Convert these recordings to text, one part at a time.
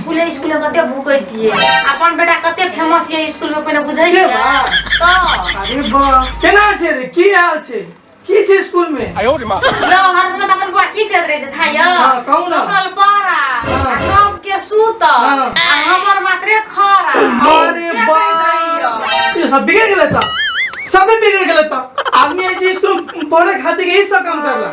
स्कूले स्कूले कते भूकै छियै अपन बेटा कते फेमस ये स्कूल में पहिने बुझै छियै तऽ अरे वाह केना छै रे की हाल छै की छै स्कूल में यो हर समय तऽ अपन बुआ की करैत रहै छै थाय हाँ, कहू ने। लोकल पारा हाँ। आ सबके सूत आ हाँ। हमर मात्रे खरा अरे से करैत वाह रहैया। ये सब बिगड़ गेलै तऽ सबे बिगड़ गेलै तऽ आदमी ऐसे स्कूल में पढ़े खातिर यही सब काम करला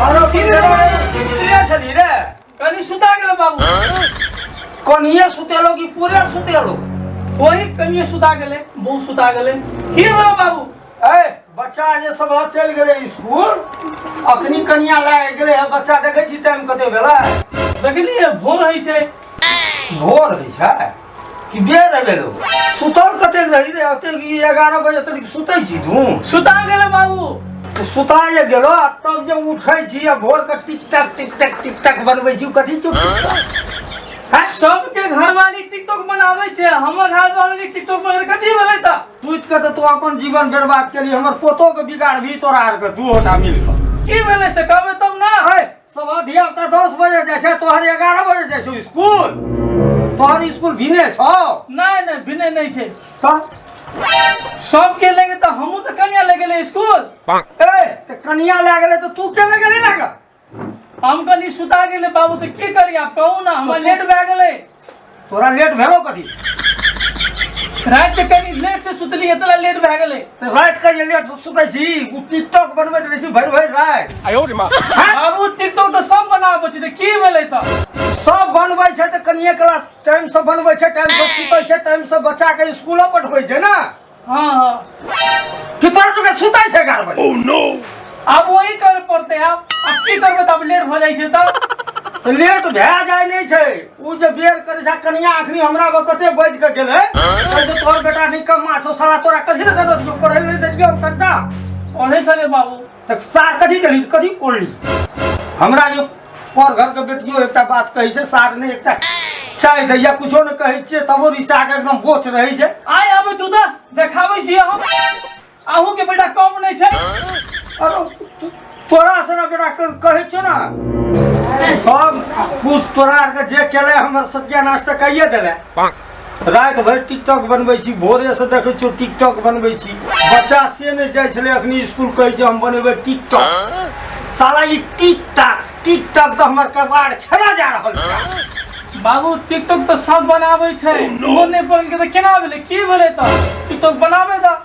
आरो की भेलो सुतले छली रे कनी सुता गेलो बाबू कनिए सुतेलो कि पूरे सुतेलो वही कनिए सुता गेले बहू सुता गेले की भेलो बाबू ए बच्चा जे सब चल गेले स्कूल अखनी कनिया लाए गेले है बच्चा देखे छी टाइम कते भेला देखलिए भोर होइ छै भोर होइ छै कि बे रह गेलो सुतल कते रही रे अते ई 11 बजे तक सुतै छी तू सुता गेले बाबू तऽ सुता जे गेलो आ तब जे उठै छी आ भोर के टिक टक टिक टक टिक टक बनबै छी कथी चुप हैं? सबके घरवाली टिकटॉक बनावे छे हमर घरवाली टिकटॉक बनावे कथी भेलै त सुत के तऽ तू अपन जीवन बर्बाद केली हमर पोतो के बिगाड़बी तोरा आर के दू होटा मिल के की भेलै से कहबे तब ना है सवा धिया पुता दस बजे जाइ छै तोहर एगारह बजे जाइ छौ स्कूल तोहर स्कूल भिने छौ नहीं नहीं भिने नहीं छे तऽ सब के लेके तो हमू तो कन्या ले गेले स्कूल ए तऽ कनिया लए गेलै तऽ तू के लए गेली लए कऽ हम कनी सुता गेले बाबू तो की करी आप कहू ना हम लेट भए गेले तोरा लेट भेलो कथी रात के कनी लेट से सुतली एतला लेट भए गेलै तऽ राति के जे लेट से सुतै छी ओ टिकटॉक बनबैत रहै छी भरि भरि राति बाबू टिकटॉक तऽ सब बनाबै छै तऽ की भेलै तऽ सब बनबै छै तऽ कनिए क्लास टाइम से बनबै छै टाइम से सुतै छै टाइम से बच्चा के स्कूलो पठबै छै ने हाँ हाँ कि तोरा सबके सुतै छै एगारह बजे ओह नो अब वही कर पड़ते आब अब की करबै तब लेट भऽ जाइ छै तब तऽ लेट भए जाइ नहि छै ओ जे बेर करै छै कनिया अखनी हमरा पर कते बजि कऽ गेलै कैसे तोहर बेटा निकम्मा छौ साला तोरा कथी लए देने रहियौ पढ़ै लए नहि देलियौ कर्जा ओने सरे बाबू तक सार कथी देली कथी कोली हमरा यो पर घर के बेटियो एकटा बात कहै छै सार ने एकटा चाय दैया कुछो ने कहै छियै तबो रिसा के एकदम बोच रहै छै आय आबै तू दस देखाबै छी हम अहूँ के बेटा कम नहीं छै अरे तो- तोरा से ना बेटा क- कहै छौ ना सब कुछ तोरा आर के जे केले हमर सत्यानाश तऽ कहिए देले राति भरि टिकटॉक बनबै छी भोरेसँ देखै छियौ टिकटॉक बनबै छी बच्चा से नहि जाइ छलै अखनी स्कूल कहै छै हम बनेबै टिकटॉक साला ई टिकटॉक टिकटॉक तऽ हमर कबाड़ खेला जा रहल छै बाबू टिकटॉक तऽ सब बनाबै छै ओहो नहि बन के तऽ केना भेलै की भेलै तऽ टिकटॉक बनाबै तऽ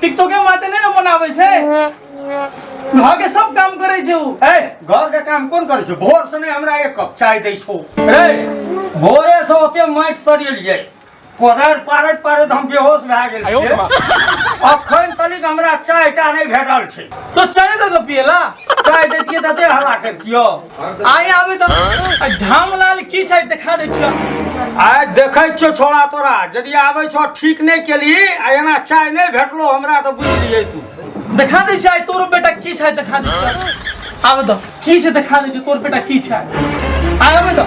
टिकटॉके माते नहि ने बनाबै छै घर के सब काम करै छै उ ए घर के काम कोन करै छै भोर से नहि हमरा एक कप चाय दै छौ रे भोरे से ओते माटि सरियलियै कोदार पारैत पारैत हम बेहोश भए गेल छियै अखन तलिक हमरा चाय टा नहि भेटल छै तो चाय दऽ के पियला चाय दैतियै तऽ एते हल्ला करितियौ आइ आबे तो आ झामलाल की छै देखा दे छियो आइ देखै छियो छोड़ा तोरा यदि आबै छो ठीक नहि केली आ एना चाय नहि भेटलो हमरा तऽ बुझलियै तू देखा दे छियो आइ तोरो बेटा की छै देखा दे छियो आबे तो की छै देखा दे छियो तोर बेटा की छै आइ आबे तो